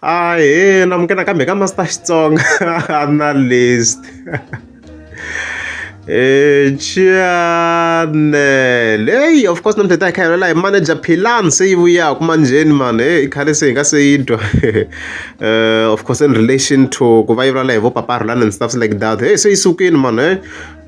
ahena mukena kambe ka master xitsonga analyst Eh, Chanel. Hey, of course namhlanje akhayelo la manager Philan seyibuya kumanjeni man. Hey, ikhale seyinga seyidwa. Eh, of course in relation to ku va yivula hi vo Papa Roland and stuff like that. Hey, seyisukini man. Hey.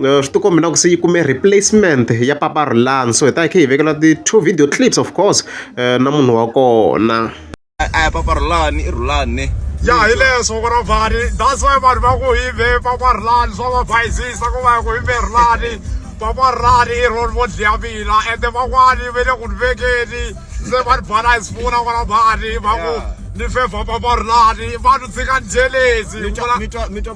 Eh, swi tikombi na ku se yi kume replacement ya Papa Roland. So hi ta khe hi vekela ti two video clips of course eh, na munhu wa kona. a ya papa rhulani i rhulani ya hi leswo ku ri vhani that's why vanhu va ku hi ve papa rhulani swa va bayizisa ku va ku hi ve rhulani papa rhulani i roni vo dliya mina ende van'wani ve le ku ni vekeni se va ni bhala hi sifuna ku ri vhani va ku ni fevha papa rhulani va ni tshika ni jelezi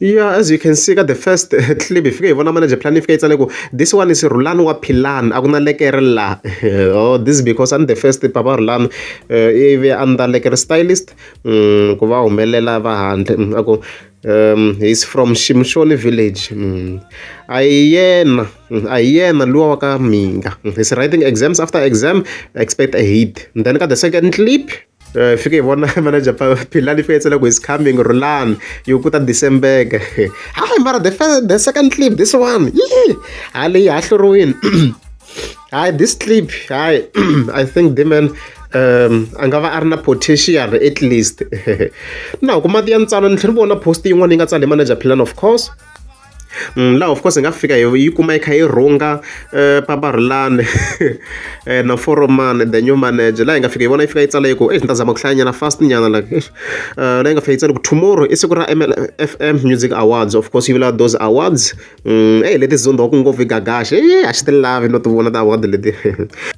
Ya as you can see ka the first clip hi fike hi vona manage plan yi fike yi tsale ku this one is Rhulani wa Philani a ku na lekere la oh this is because I'm the first papa Rhulani ivi a ni ta lekere stylist mm, ku va humelela va handle mm, a ku um he's from Shimshoni village mm. a hi yena mm, a hi yena luwa wa ka Minga he's writing exams after exam expect a hit then ka the second clip Eh, fike hi vona manager philani fetsa loko is coming rulani yi ku ta decembeke hayi mara the, first, the second clip this one yi hayi leyi hahluriwini hayi this clip hayi i think deman um a nga va a ri na potential at least na huku mati ya ntsana ni tlhela ni vona post yin'wana yi nga tsala hi manager philani of course laha of course hi nga fika hi yi kuma yi kha yi rhunga eh, paparhulani eh, na foromani the new manager laha hi nga fika hi vona yi fika yi tsala yi ku exi ni ta zama ku hlayanyana fast nyana like eh, laha yi nga fika yi tsala ku tomorrow i siku ra mlfm music awards of course yi vula those awards mm, ey leti zondo wa ku ngopfu yi gagaxe e a xi ti lavi no ti vona ta award leti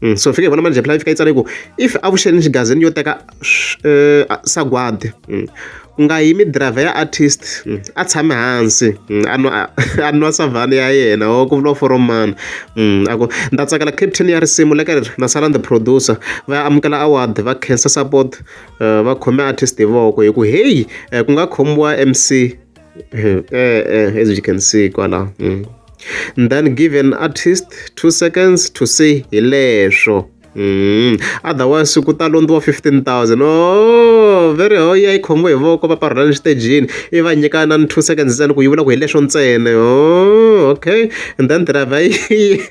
mm, so fika hi vona manager phela yi fika yi tsala yi ku if avuxeni xigazini yo teka sagwadi ku nga yimi driver ya artist a tshame hansi a nwa a nwa savanna ya yena or ku vula foro mani a ku ni ta tsakela caption ya risimu le ka ri na sala ni the producer va ya amukela award va khensa support va khome artist hi voko hi ku heyi ku nga khomiwa M_C e-e as you can see kwalano then give an artist two seconds to say hi leswo. otherwise ku ta londziwa fifteen thousand ooh va ri hoyee yi khomiwe hi voko va parhela exitejini ivi va nyika inana two seconds ntsena ku yi vula ku hi leswo ntsena ooh okay and then driver yi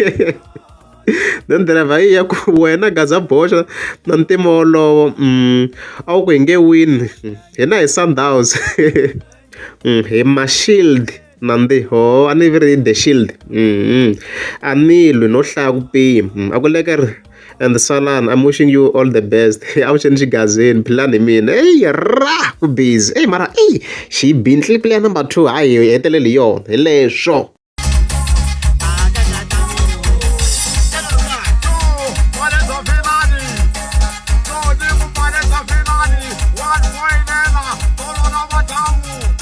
then driver yi ya ku wena gaza boxa na ntima wolowo a wu ku hi nge wini hina hi sundowns hi ma shield. Nandziho a ni ri the shield a ni lwi no hlaya ku pima mm, a ku leke ri and salani i'm wishing you all the best avuxeni xigazini philani hi mina eyi ra ku busy eyi mara eyi xi yi bintli player number two hayi hi heteleli hi yona hi leswo